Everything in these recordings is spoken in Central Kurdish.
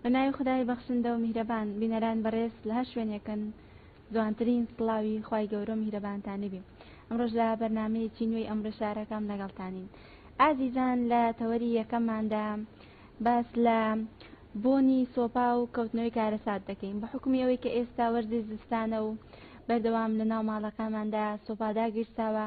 بە ناوی خدای بەخشندە و میهرەبان بینەران بەڕێز لە هەر شوێنێکن جوانترین سڵاوی خوای گەورە و میهرەبانتانی بێ ئەمڕۆش لە بەرنامەیەکی نوێی ئەمڕۆ شارەکەم لەگەڵتانین ئازیزان لە تەوەری یەکەمماندا باس لە بۆنی سۆپا و کەوتنەوەی کارەسات دەکەین بە حکومی ئەوەی کە ئێستا وەرزی زستانە و بەردەوام لە ناو ماڵەکانماندا سۆپاداگیرساوە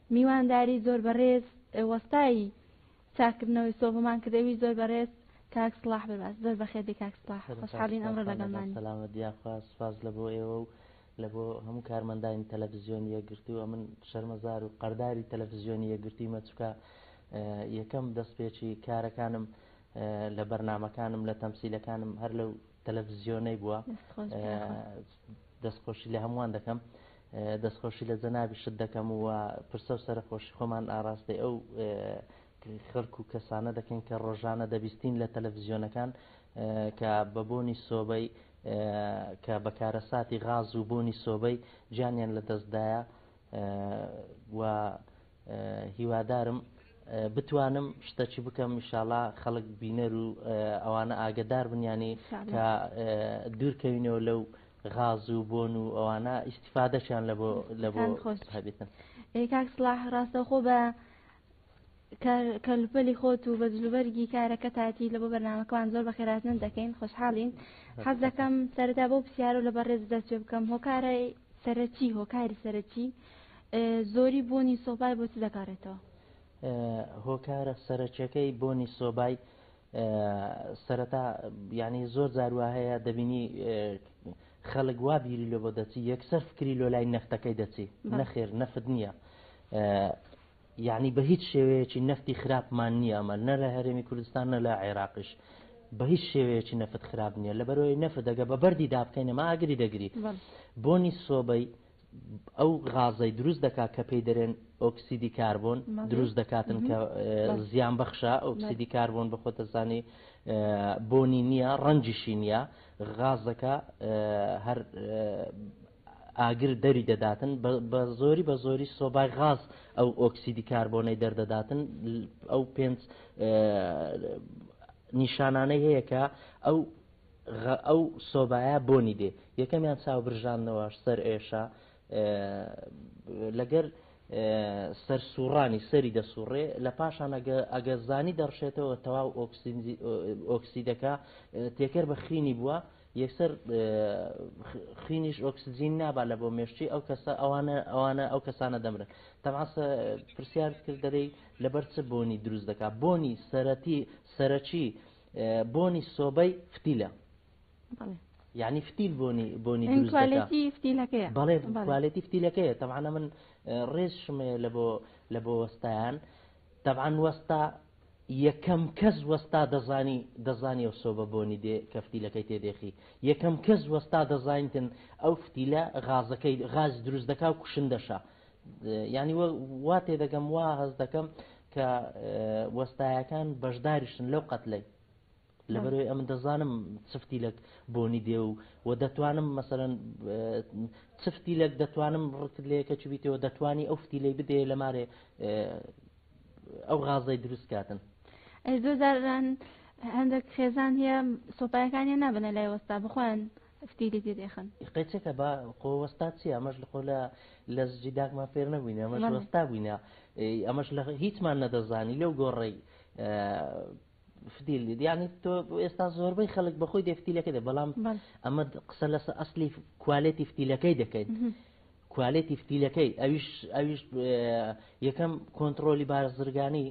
میوانداری زۆر بەڕێز وەستای چاککردنەوەی سۆڤمان کرد ئەویش زۆر بەڕێز کاک سڵاح بەرباس زۆر بەخێر بێی کاک سڵاح خۆشحاڵین ئەمڕۆ لەگەڵمانی. سەلامەت یاخوا سوپاس لە بۆ ئێوە و لە بۆ هەموو کارمەندانی تەلەفزیۆنی یەکگرتوو ئەمن شەرمەزار و قەرداری تەلەفزیۆنی یەکگرتوویمە چکە یەکەم دەستپێکی کارەکانم لە بەرنمەکانم لە تەمسیلەکانم هەر لەو تەلەفزیۆنەی بووە دەستخۆشی لە هەمووان دەکەم دەستخۆشی لە جەنابیشت دەکەم و پرسە و سەرخۆشی خۆمان ئاراستەی ئەو خەرک و کەسانە دەکەین کە ڕۆژانە دەبیستین لە تەلەڤزیۆنەکان کە بە بۆنی سۆبەی کە بەکارە ساتی غاز و بۆنی سۆبەی جانیان لە دەستدایە و هیوادارم بتوانم شتەکی بکەم میشاڵا خەڵک بینەر و ئەوانە ئاگدار بنیانی کە دوورکەوینەوە لەو غاز و بۆن و ئەوانە ئیسیفادەشیان لە بۆ لە بۆ خۆشبێتن کاک سلاح ڕاستەخۆ بە کەلوپەلی خۆت و بە جلوبەرگی کارەکە تاتی لە بۆ بەرنمەکەوان زۆر بەخێراتن دەکەین خۆشحاڵین حەز دەکەم سەردا بۆ پرسیارو لە بەڕێز دەست پێ بکەم هۆکارە سەرەکی، هۆکاری سەرەکی، زۆری بۆنی سۆبای بۆ چ دەگەڕێتەوە؟ هۆکارە سەرەکیەکەی بۆنی سۆبای سەرەتا یعنی زۆر زاروا هەیە دەبینی خەڵک وا بیری لۆ بۆ دەچی یەکسەر فکری لۆ لای نەختەکەی دەچی نەخێر نەفت نییە یەعنی بە هیچ شێوەیەکی نەفتی خراپمان نییە ئەمە نە لە هەرێمی کوردستان نە لە عێراقیش بە هیچ شێوەیەکی نەفت خراپ نییە لەبەرەوەی نەفت دەگە بە بەردی دابکەین ئەمە ئاگری دەگری بۆنی سۆبەی ئەو غازەی دروست دەکات کە پێی دەرێن ئۆکسیدی کاربۆن دروست دەکاتن کە زیان بەخشە ئۆکسیدی کاربۆن بە خۆتەزانی بۆنی نییە ڕەنجیشی نییە غازەکە هەر ئاگر دەری دەداتن بە زۆری بە زۆری سۆبای غاز ئەو ئۆکسیدی کاربۆنەی دەردەداتن ئەو پێنج نیشانانەی هەیە کە ئەو ئەو سۆبایە بۆنی دێ یەکەمیان چاو برژانەوە سەر ئێشە لەگەر سەر سوڕانی سەری دەسوڕێ لە پاشان ئەگە زانی دەڕشێتەوە تەواو ئۆکسیدەکە تێکەر بە خینی بووە یەکسەر خوینیش ئۆکسجین نابا لە بۆ مێشتی ئەو کەسە ئەوانە ئەوانە ئەو کەسانە دەمرن تەماسە پرسیارت کرد دەرەی لەبەر چ بۆنی دروست دەکات بۆنی سەرەتی سەرەکی بۆنی سۆبەی فتیلە یعنی فتیل بۆنی بۆنی کوالێتی فتیلەکەیە بەڵێ کوالێتی فتیلەکەیە تەمانە من ڕێزشمەیە لە بۆ لە بۆ وەستایان تەبان وەستا یەکەم کەس وەستا دەزانی دەزانی ئەو سۆبە بۆنی دێ کە فتیلەکەی تێ دێخی یەکەم کەس وەستا دەزانیتن ئەو فتیلە غازەکەی غاز دروست دەکا و کوشندەشە ینی وا تێ دەگەم وا هەز دەکەم کە وەستایەکان بەشداریشتن لەو قەتلەی لەبەرئەوەی ئەمن دەزانم چفتی لەک بۆنی دێ و و دەتوانم مەسەرەن چفتی لەک دەتوانم ڕکت لەیەکە چ بیتەوە دەتوانی ئەو فتی لی بدەیە لەمارێ ئەو غازەی دروست کاتن ئەی زۆر جاران هەندێک خێزان هەیە سۆپایەکانیان نابنە لای وەستا بخۆیان فتی لێ دێ دێخن قەچێکە بە قۆوەستا چی ئەمەش لە خۆلا لە زجی داکمان فێر نەبووینە ئەمەش وەستا بووینە ئەمەش لە هیچمان نەدەزانی لەو گۆڕی فتیل دێت یعنی تۆ ئێستا زۆربەی خەڵک بەخۆی دێ فتیلەکە دێ بەڵام ئەمە قسە لەسە ئەسلی کوالێتی فتیلەکەی دەکەین کوالێتی فتیلەکەی ئەویش ئەویش یەکەم کۆنتترۆلی بارزرگانی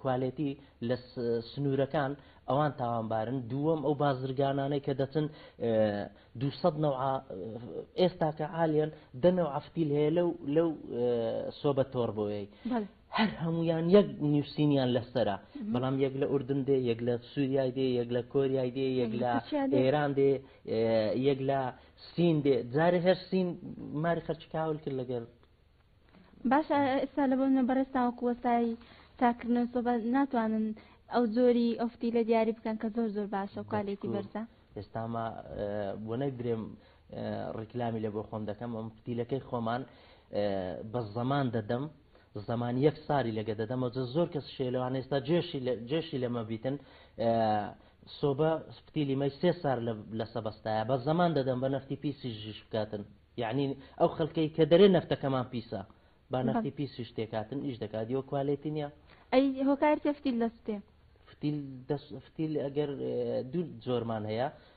کوالێتی لە سنوورەکان ئەوان تاوانبارن دووەم ئەو بازرگانانەی کە دەچن دو ئێستاکە عالیان دەنەوە ئەفتیل هەیە لەو لەو سۆبە تۆربۆیەی هەر هەموویان یەک نووسینیان لەسەرە بەڵام یەک لە ئوردن دێ یەک لە سووریای دێ یەک لە کۆریای دێ یەک لە ئێران دێ یەک لە سین دێ جارێ هەر سین ماری خەرچ کاول کرد لەگەر باش ئێستا لە بۆنە بەڕێز تاوەکو وەستای تاکردنەوە سۆبە ناتوانن ئەو جۆری ئەفتی لە دیاری بکەن کە زۆر زۆر باشە و کوالێتی بەرزە ئێستاما بۆ نەگرێم ڕیکلامی لێ بۆ خۆم دەکەم ئەم فتیلەکەی خۆمان بە زەمان دەدەم زەمان یەک ساری لەگە دەدەمەوە جە زۆر کەس شێلەوان ئێستا جێشی جێشی لەمە بیتن سۆبە فتیلی مەی سێ سار لە سەبەستایە بە زەمان دەدەم بە نەفتی پیسی ژیش بکاتن یعنی ئەو خەڵکەی کە دەرێ نەفتەکەمان پیسە با نەفتی پیسی شتێکاتن ئیش دەکات یۆ کوالێتی نیە ئەی هۆکارتە فتیل لەستێ فتیل دەست فتیل ئەگەر دوو زۆرمان هەیە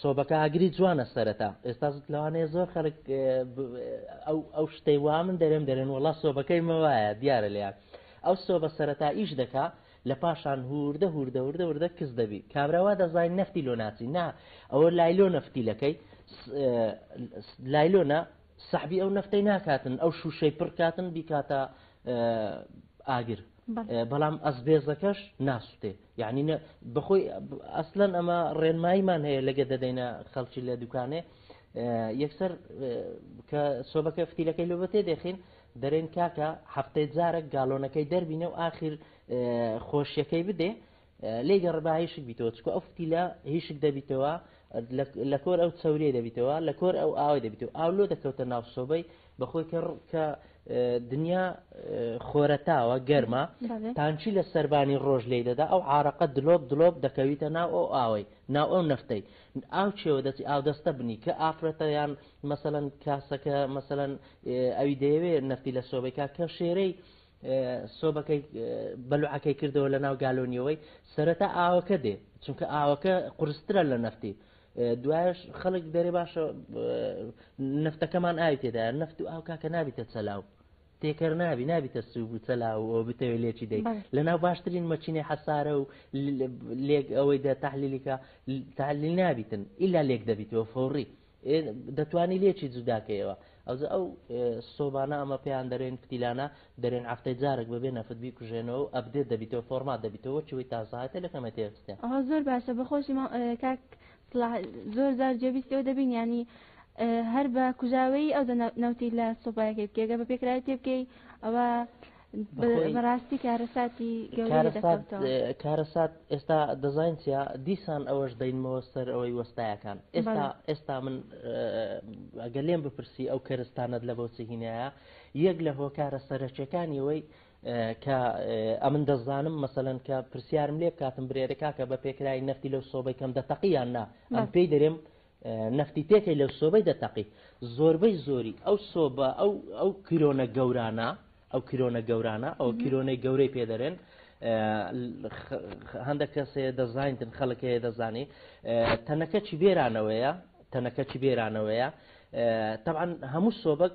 سۆبەکە ئاگری جوانە سەرەتا ئێستا لەوانەیە زۆر خەڵک ئەو شتەی وا من دەرێم دەرێن وڵا سۆبەکەی مەوایە دیارە لێیان ئەو سۆبە سەرەتا ئیش دەکا لە پاشان هوردە هوردە وردە وردە کز دەبی کابراوا دەزانین نفتی لۆ ناچی نا ئەوە لایلۆ نفتی لەکەی لایلۆنا سەحبی ئەو نفتەی ناکاتن ئەو شوشەی پڕکاتن بیکاتە ئاگر بەڵام ئەسبێزەکەش ناسوتێ یعنی نە بەخۆی ئەسلەن ئەمە ڕێنماییمان هەیە لەگە دەدەینە خەڵکی لە دوکانێ یەکسەر کە سۆبەکە فتیلەکەی لۆ بەتێ دەخین دەرێن کاکە هەفتەی جارە گالۆنەکەی دەربینە و آخر خۆشیەکەی بدێ لێ گە ربا هیشک بیتەوە چکۆ ئەو فتیلە هیشک دەبیتەوە لە کۆر ئەو چەوریە دەبیتەوە لە کۆر ئەو ئاوای دەبیتەوە ئاو لۆ دەکەوتە ناو سۆبەی بەخۆی کە کە دنیا خۆرەتاوە گەرمە تانچی لە سربانی ڕۆژ لی دەدا ئەو عراقە دلۆپ دلۆپ دەکەویتە ناو ئەو ئاوەی ناو ئەو نفتەی ئاو چێوە دەچی ئاو دەستە بنی کە ئافرەتە یان مەسەەن کاسەکە مەسەەن ئەوی دەیەوێ نفتی لە سۆبەیکا کە شێرەی سۆبەکەی بەلوعەکەی کردەوە لە ناو گالۆنیەوەی سەرەتا ئاوەکە دێ چونکە ئاوەکە قرسترە لە نەفتی دوایش خەڵک دەرێ باشە نفتەکەمان ئاوی تێدا نفت و ئاو کاکە نابیتە چەلاو تێکەر نابی نابیتە سوب و چەلاوەوە بتەوێت لێکی دەی لە ناو باشترین مەچینەی حەسارە و لێک ئەوەی دە تحلیلیکە تحلیل نابیتن ئیلا لێک دەبیتەوە فۆڕی ئێ دەتوانی لێکی جوداکەیەوە ئەوجە ئەو سۆبانە ئەمە پێیان دەرێن پتیلانە دەرێن هەفتەی جارێک بەبێ نەفت بیکوژێنەوە و ئەبدێت دەبیتەوە فۆرمات دەبیتەوە وەکیوەی تازەهاتە لەکەمە تێستێن ئەوە زۆر باشە بەخۆشی مام کاک سڵاح زۆر زار جێبیستەوە دەبین ینی هەر بە کوژاوەی ئەو نەوتی لە سۆبایەکەی بکێگە بە پێکراوی تێبکەی ئەوە بەڕاستی کارەساتی کارەسات ئێستا دەزانین چیا دیسان ئەوەش دەینمەوە سەر ئەوەی وەستایەکان ئێستا ئێستا من ئەگە لێم بپرسی ئەو کەرستانت لە بۆچی هینایە یەک لە هۆکارە سەرەکیەکانی ئەوەی کە ئەمن دەزانم مەسەن کە پرسیارم لێ بکاتم برێرەکە کە بە پێکرای نەفتی لەو سۆبەی کەم دەتەقییان نا ئەم پێی دەرێم نەفتی پێکەی لەو سۆبەی دەتەقی زۆربەی زۆری ئەو سۆبە ئەو ئەو کرۆنە گەورانە ئەو کرۆنە گەورانە ئەو کرۆنەی گەورەی پێدەرێن هەندە کەسێ دەزانتن خەڵکەیە دەزانی تەنەکە چی بێرانەوەیە تەنەکە چی بێرانەوەیە تەعاان هەموو سۆبک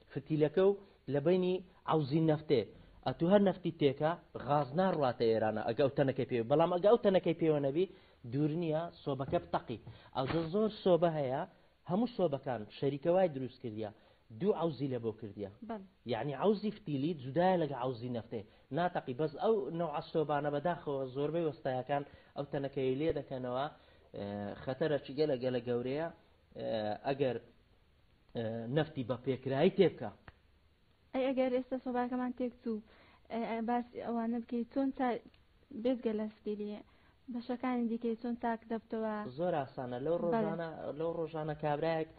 فتیلەکە و لە بەینی عەوزی نەفتێ ئەتوو هەر نەفتی تێکا غاز ناڕواتە ئێرانە ئەگە ئەو تەنەکەی پێوە بەڵام ئەگە ئەو تەنەکەی پێوە نەبی دوور نییە سۆبەکە بتەقی ئەوجە زۆر سۆبە هەیە هەموو سۆبەکان شەریکە وای دروست کردیە دوو عەوزی لە بۆ کردیە یعنی عەوزی فتیلی جودایە لەگە عەوزی نەفتێ ناتەقی بەس ئەو نەوعە سۆبانە بەداخەوە زۆربەی وەستایەکان ئەو تەنەکەی لێ دەکەنەوە خەتەرە چگەلە گەلە گەورەیە ئەگەر نەفتی بە پێکرایی تێبکە. ئەی ئەگەر ئێستا سۆبارەکەمان تێک چوو باس ئەوانە بکەیت چۆن بێزگە لە سپیری بەشەکانی دیکەی چۆن تاک دەبتەوە زۆر ئاسانە لەو ڕۆژانە لەو ڕۆژانە کابراایەک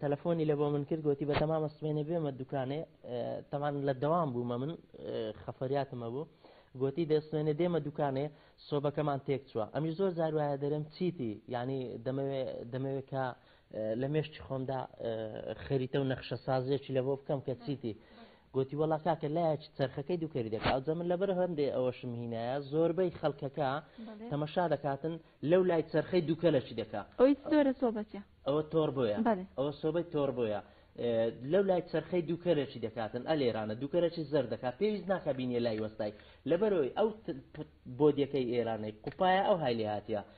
تەلەفۆنی لە بۆ من کرد گوتی بە تەمامە سمێنێ بێمە دوکانێ تەمان لە دەوام بوومە من خەفەریاتمە بوو گوتی دەستێنێ دێمە دوکانێ سۆبەکەمان تێک چووە ئەمی زۆر زاروایە دەرم چیتی ینی دەمەوێت کە لە مێشکی خۆمدا خەریتە و نەخشە سازێکی لە بۆ بکەم کە چیتی گوتی وەڵا کاکە لایەکی چرخەکەی دووکەری دەکات جە من لەبەر هەندێ ئەوەشم هینایە زۆربەی خەڵکەکە تەمەشا دەکاتن لەو لای چرخەی دووکە لەچی دەکات ئەوی زۆرە سۆبەتە ئەوە تۆر بۆیە ئەوە سۆبەی تۆر بۆیە لەو لای چرخەی دووکەرەی دەکاتن ئە لێرانە دووکەرەی زەر دەکات پێویست ناکە بینیە لای وەستای لەبەرەوەی ئەو بۆدیەکەی ئێرانەی قوپایە ئەو هایلی هااتە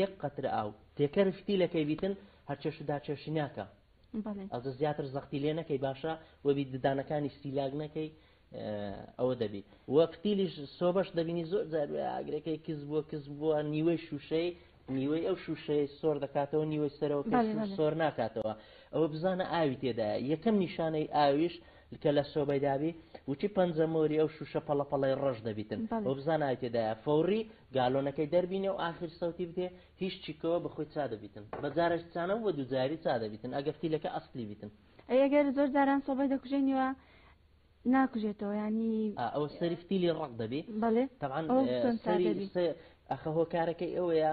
یەک قەترە ئاو تێکەر شتی لەکەی بیتن هەرچێش دا چێشی ناکە ئەوجە زیاتر زەختی لێ نەکەی باشە وەبی ددانەکانی سیلاگ نەکەی ئەوە دەبی وە فتیلیش سۆبەش دەبینی زۆر جار ئاگرەکەی کز بووە کز بووە نیوەی شوشەی نیوەی ئەو شوشەیە سۆر دەکاتەوە نیوەی سەرەوە سۆر ناکاتەوە ئەوە بزانە ئاوی تێدا یەکەم نیشانەی ئاویش کە لە سۆبەی دابی وچی پەنجە مۆری ئەو شوشە پەڵە پەڵەی ڕەش دەبیتن بەڵێ. وبزانە ئای تێدایە فەوڕی گالۆنەکەی دەربینێ و ئاخیر سەوتی بدێ هیچ چیکەوە بە خۆی چا دەبیتن بە جارەش چا نەبوو بە دووجاری چا دەبیتن ئەگەر فیلەکە ئەسڵی بیتن. ئەی ئەگەر زۆر جاران سۆبەی دەکوژێنیوە ناکوژێتەوە یانی. ئا ئەوە سەری فتیلی ڕەق دەبی بەڵێ تەبعەن ئەوە چۆن چا سەری دەبی. سە ئەخە هۆکارەکەی ئەوەیە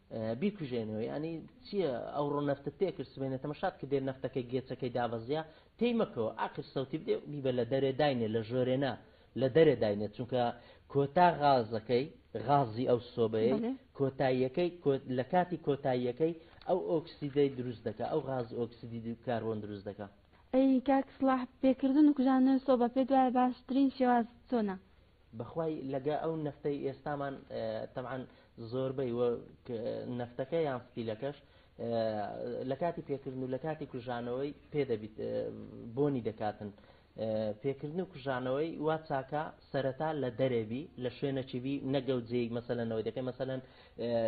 بیکوژێنەوە یانی چییە ئەو ڕۆ نەفتت پێ کرد سبێنێ تەمەشات کە دێر نەفتەکە گێچەکەی دابەزیا پێی مەکەوە ئاخر سەوتی بدێ بیبە لە دەرێ داینێ لە ژۆرێنا لە دەرێ داینێ چونکە کۆتا غازەکەی غازی ئەو سۆبەیە کۆتاییەکەی لە کاتی کۆتاییەکەی ئەو ئۆکسیدەی دروست دەکە ئەو غاز ئۆکسیدی کاربۆن دروست دەکە ئەی کاک سڵاح پێکردن و کوژانەوەی سۆبە پێت وایە باشترین شێواز چۆنە بەخوای لەگە ئەو نەفتەی ئێستامان تەبعەن زۆربەی و نەفتەکە یان ستیلەکەش لە کاتی پێکردن و لە کاتی کوژانەوەی پێ دەبیت بۆنی دەکاتن پێکردن و کوژانەوەی وا چاکە سەرەتا لە دەرێبی لە شوێنەچیبی نەگەوت جێی مەسەلەنەوەی دەکەی مەسەەن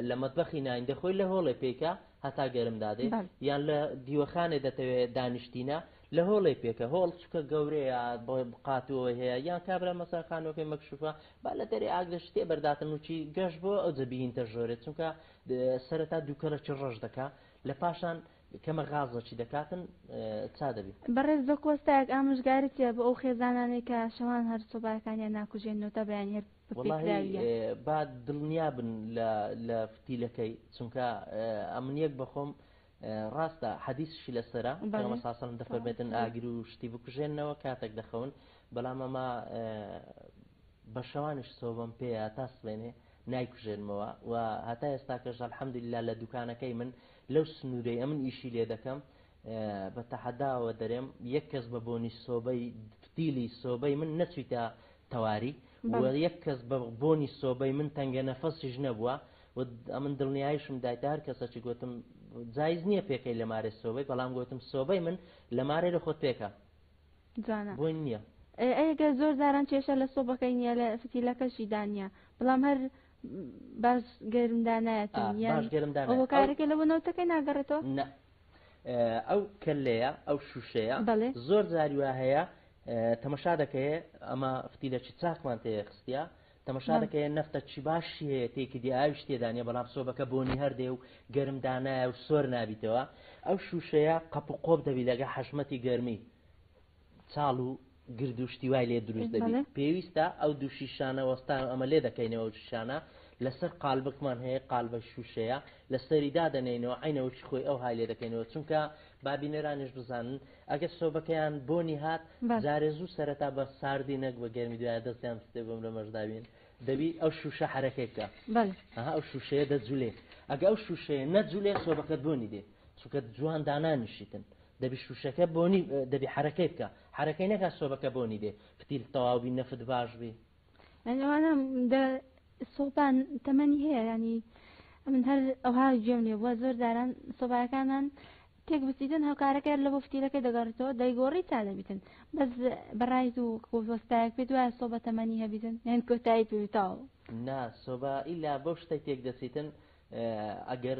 لە مەتبەخی ناین دەخۆی لە هۆڵێ پێکە هەتا گەرم دادێ یان لە دیوەخانێ دەتەوێت دانیشتینە لە هۆڵێ پێکە هۆڵ چکە گەورەیە بۆی بقاتوەوەی هەیە یان کابرا مەسەن خانوەکەی مەکشوفە با لە دەرێ ئاگرە شتێ بەرداتن وچی گەشت بۆ ئەو جە بیینتە ژۆرێ چونکە سەرەتا دووکەلە چ ڕەش دەکا لە پاشان کەمە غازە چی دەکاتن چا دەبی. بەڕێز بە کۆستایەک ئامۆژگاریت هەیە بۆ ئەو خێزانانەی کە شەوان هەر سۆبایەکانیان ناکوژێن نۆتەبەیانی هەر وەڵاهی با دڵنیابن لە لە فتیلەکەی چونکە ئەمن یەک بەخۆم ڕاستە حەدیسشی لەسەرە پێغەمبەر صلی اللە علیە و سلم دەفەرمێتن ئاگر و شتی بکوژێنەوە کاتێک دەخەون بەڵام ئەمە بە شەوانیش سۆبم پێەیە تا سبێنێ نایکوژێنمەوە و هەتا ئێستاکەش الحەمدللا لە دوکانەکەی من لەو سنوورەی ئەمن ئیشی لێ دەکەم بە تەحەداوە دەرێم یەک کەس بە بۆنی سۆبەی فتیلی سۆبەی من نەچیتە تەواری یەک کەس بە بۆنی سۆبەی من تەنگە نەفەسیش نەبووە و ئەمن دڵنیایشم دایتە هەر کەسەچی گوتم جایز نییە پێکەی لە مارێ سۆبەی بەڵام گوتم سۆبەی من لە مارێ لە خۆت پێکە جانە بۆی نییە ئەگەر زۆر جاران کێشە لە سۆبەکەی نییە لە فتیلەکەشی دانە بەڵام هەر باش گەرمدا نایەتن یان باش گەرمدا نایەت. ئەوە ئەو- کارەکە لەوە نەوتەکەی ناگەڕێتەوە نە ئە، ئەو کەلەیە ئەو شوشەیە بەڵێ. زۆر زاری وا هەیە ئە، تەمەشا دەکەیە ئەمە فتیلەکی چاکمان تێخستە تەمەشا دەکە یە نەفتە چی باشی هەیە تێکی دێ ئاویش تێدا نیە بەڵام سۆبەکە بۆنی هەردێ و گەرم دانایە و سۆر نابیتەوە ئەو شووشەیە قەپ و قۆپ دەبی لەگە حەشمەتی گەرمی چاڵ و گرد و شتی وای لێ دروست دەبی بەڵێ پێویستە ئەو دوو شیشانە وەستان و ئەمە لێ دەکەینەوە ئەو شیشانە لەسەر قالبکمان هەیە قالبە شووشەیە لەسەری دادەنێینەوە عینەوەشی خۆی ئەو های لێ دەکەینەوە چونکە با بینەرانیش بزانن ئەگەر سۆبەکەیان بۆنی هات جارێ زوو سەرەتا بە ساردی نەک بە گەرمی دوای دەستیان بستێ بم لە مەشداوین دەبی ئەو شوشە حرەکێکە ها ئەو شوشەیە دەجولێ ئەگە ئەو شوشەیە نەجولێ سۆبەکەت بۆنی دێ چونکە جوان دانانیشیتن دەبی شوشەکە بۆنی دەبی حرەکەی بکە حرەکەی نەکە سۆبەکە بۆنی دێ پتیل تەواوبی نەفت باش بی یعنی ئەوانە دە سۆپان تەمەنی هەیە ینی من هەر ئەوها گوێم لێ بووە زۆر جاران سۆبارەکانمان تێک بچیتن هەوکارەکە لە بۆ فتیلەکە دەگەڕێتەوە دەیگۆڕی تا دەبیتن بەس بەڕای و کۆستایەک پێ دوایە سۆبە تەمەنی هەبیتن یان کۆتایی پێویتاوە نا سۆبا ئیلا بەو شتە تێک دەچیتن ئەگەر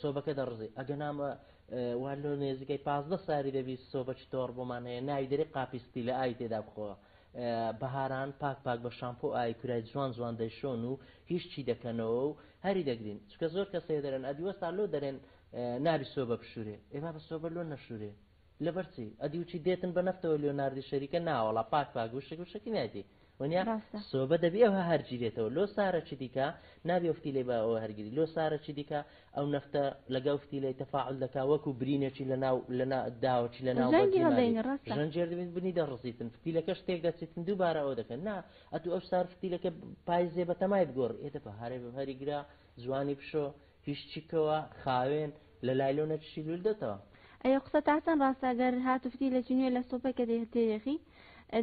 سۆبەکە دەڕزی ئەگەنا وا لۆ نێزیکەی پازدە ساری دەبی سۆبە چتۆڕ بۆمان هەیە ناوی دەری قاپیستی لە ئای تێدا بخۆ بەهاران پاک پاک بە شامپۆ ئای کورای جوان جوان دەیشۆن و هیچ چی دەکەنەوە و هەری دەگرین چکە زۆر کەسێ دەرێن ئەدیوەستا لۆ دەرێن نابی سۆبە بشورێ ئێمە بە سۆبە لۆ نەشورێ لەبەر چی ئەدی وچی دێتن بە نەفتەوە لێۆناردی شەریکە ناوەڵا پاک پاک وشک وشکی نایدی ونیا ڕاستە سۆبە دەبی ئەوها هەرگیرێتەوە لۆ سارە چی دیکە نابێ فتیلەی بە ئەوە هەرگیری لۆ سارە چی دیکە ئەو نەفتە لەگەڵ فتیلەی تەفاعل دەکا وەکو برینێکی لە ناو لە داوەکی لە ناو ژەنگی هەڵدەینی ڕاستە ژەنجێر دەبین بنی دەڕزیتن فتیلەکەش تێک دەچیتن دووبارە ئەوە دەکەن نا ئەتو ئەو سار فتیلەکە پایزێ بە تەمای بگۆڕ ئێدە بە هەرێ بە هەریگرا جوانی بشۆ هیچ چیکەوە خاوێن لە لای لۆ نەچشی لول دەتەوە. ئەیە قسە تاچەن راستە گەر هاتوفتی لە چینوێ لە سوپەی کە تێیەخی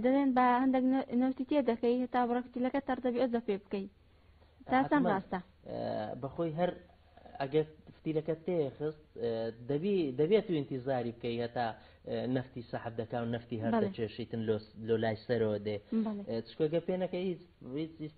دەلێن با هەندەک نەوتی تێ دەکەی هەتا بڕە فتیلەکە تەڕ دەبی ئەوجە پێ بکەی تاچەن راستە. بەخۆی هەر ئەگەر فتیلەکە تێیەخست دەبی دەبێ تو ئینتیزاری بکەی هەتا نەفتی سەحب دەکاو نەفتی هەر دەچێشیتن لۆ لۆ لای سەرەوە دێ چکۆگە پێ نەکەی هیچ هیچ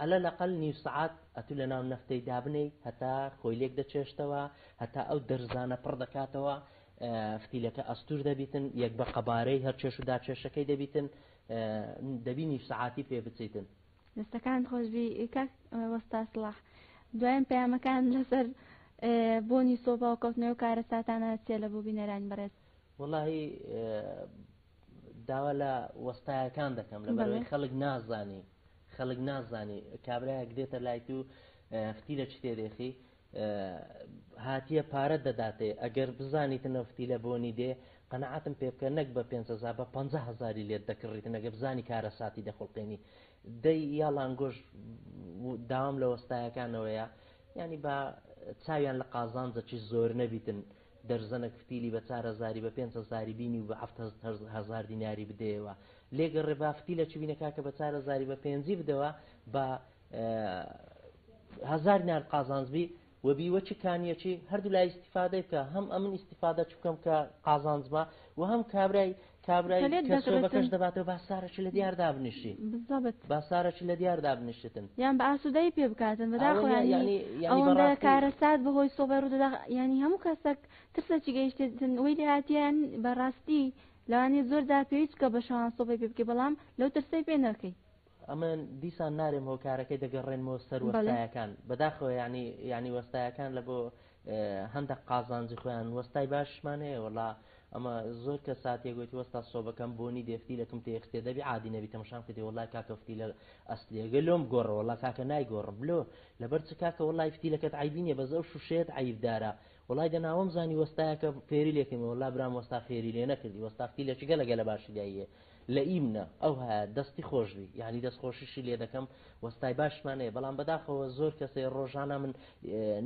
عەلە لەقەل نیو سەعات ئەتوو لەناو نەفتەی دابنێی هەتا خۆی لێک دەچێشتەوە هەتا ئەو دەرزانە پڕ دەکاتەوە فتیلەکە ئەستور دەبیتن یەک بە قەبارەی هەر چێش و داچێشەکەی دەبیتن دەبی نیو سەعاتی پێ بچیتن دەستەکان خۆشبی کاک وەستا سڵاح دوایان پەیامەکان لەسەر بۆنی سۆپا و کەوتنەوە کارە ساتانە چێ لە بۆ بینەرانی بەڕێز وەڵی داوا لە وەستایەکان دەکەم لەبەرەوەی خەڵک نازانی خەڵک نازانی کابراایەک دێتە لای تو فتیلە چ تێدێخی هاتیە پارە دەداتێ ئەگەر بزانیت نەفتی لە بۆنی دێ قەنەعاتم پێ بکە نەک بە 500 بە 50 هزاری لێت دەکڕیت نەگە بزانی کارە ساتی دەخڵقێنی دەی یا لانگۆش داوام لە وەستایەکانەوەیە ینی بە چاویان لە قازانجەکی زۆر نەبیتن دەرزەنەک فتیلی بە چار هەزاری بە پێنج هەزاری بینی و بە هەفت هەزار دیناری بدەیەوە لێ گەڕێ با فتیلە چی بینە کاکە بە چار هەزاری بە پێنجی بدەوە بە هەزار دینار قازانج بی و بیوە چ کانیە چی هەردوو لای ئیسیفادەی بکە هەم ئەمن ئیسیفادە چ بکەم کە قازانجمە و هەم کابرای کابرای کەسرۆبەکەش دەباتەوە با سارە چ لەدیار دابنیشی بزەبت با سارە چ لەدیار دابنیشتن یان بە ئاسودەی پێ بکاتن بەداخۆ یانی ئەوەندە کارەسات بەهۆی سۆبەی ڕودەدا یانی هەموو کەسەک ترسە چی گەیشتن وی لێهاتیان بەڕاستی لانی زۆر داپێویست کە بە شەوان سۆبەی پێ بکەی بەڵام لەو ترسەی پێ نەکەی ئەمن دیسان نارێم هۆکارەکەی دەگەڕێنمەوە سەر وەستایەکان بەداخەوە ینی ینی وەستایەکان لە بۆ هەندە قازانجی خۆیان وەستای باشمان هەیە وڵا ئەمە زۆر کە ساتێک گوتی وەستا سۆبەکەم بۆنی دێفتی لەکم تێخستێ دەبی عادی نەبی تەمەشام کردی وڵای کاکەفتی لە ئەسلیەگە لۆم گۆڕە وڵا کاکە نای گۆڕم بلۆ لەبەر چ کاکە وڵای فتی لەکەت عیبینە بەزە و شوشێت عیبدارە وڵای دەناوەم زانی وەستایەکە فێری لێکەمەوە لا برام وەستا فێری لێ نەکردی وەستافتی لە چگە لەگە لە باشی دایە لئیمنە ئەو هە دەستی خۆش بی. یانی دەست خۆشیشی لێ دەکەم وەستای باشمان هەیە بەڵام بەداخەوە زۆر کەسێ ڕۆژانا من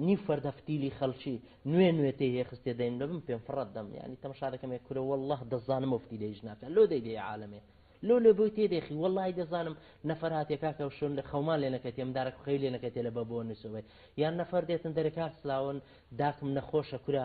نیو فەردە فتیلی خەڵکی نوێ نوێ تێ هێ خستێ دەیم لە بم پێم فڕەت دەم یانی تەمشا دەکەم یە کورە وەڵلە دەزانم ئەو فتیلە هیچ ناکا لۆ دەی دێ عالەمێ لۆ لۆ بۆی تێ دێخی وەڵلای دەزانم نەفەر هاتێ کاکە و شۆن لە خەومان لێ نەکەتێ من دارەک خەوی لێ نەکەتێ لە بە بۆ نووسەوەی یان نەفەر دێتن دەرێ کاک سلاون داکم نەخۆشە کورە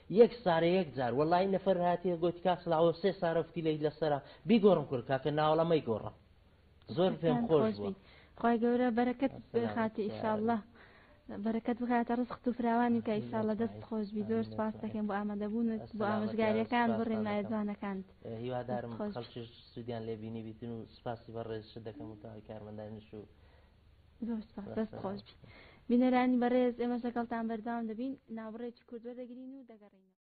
یەک سارە یەک جار وەللەی نەفەر هاتیە گۆتی کاک سڵاوۆ سێ سارە فتیلەیت لەسەرە بیگۆڕم کورە کاکە ناوەڵا مەیگۆڕە زۆر پێم خۆش بوە. خوای گەورە بەرەکەت بخاتە ئیشاڵڵە بەرەکەت بخاتە ڕزقت و فراوانی بکە ئیشاڵڵە دەست خۆش بی زۆر سپاس دەکەین بۆ ئامادەبوونت بۆ ئامۆژگاریەکان بۆ ڕێنمایە جوانەکانت هیوادارم خەڵکیش سودیان لێ بینی بیتن و سپاسی بەڕێزشت دەکەم و تاوەی کارمەندانیش و زۆر سپاس دەست خۆش بینەرانی بەڕێز ئێمەش لەگەڵتان بەردەوام دەبین ناوەڕێکی کورد وەردەگرین و دەگەڕێینەوە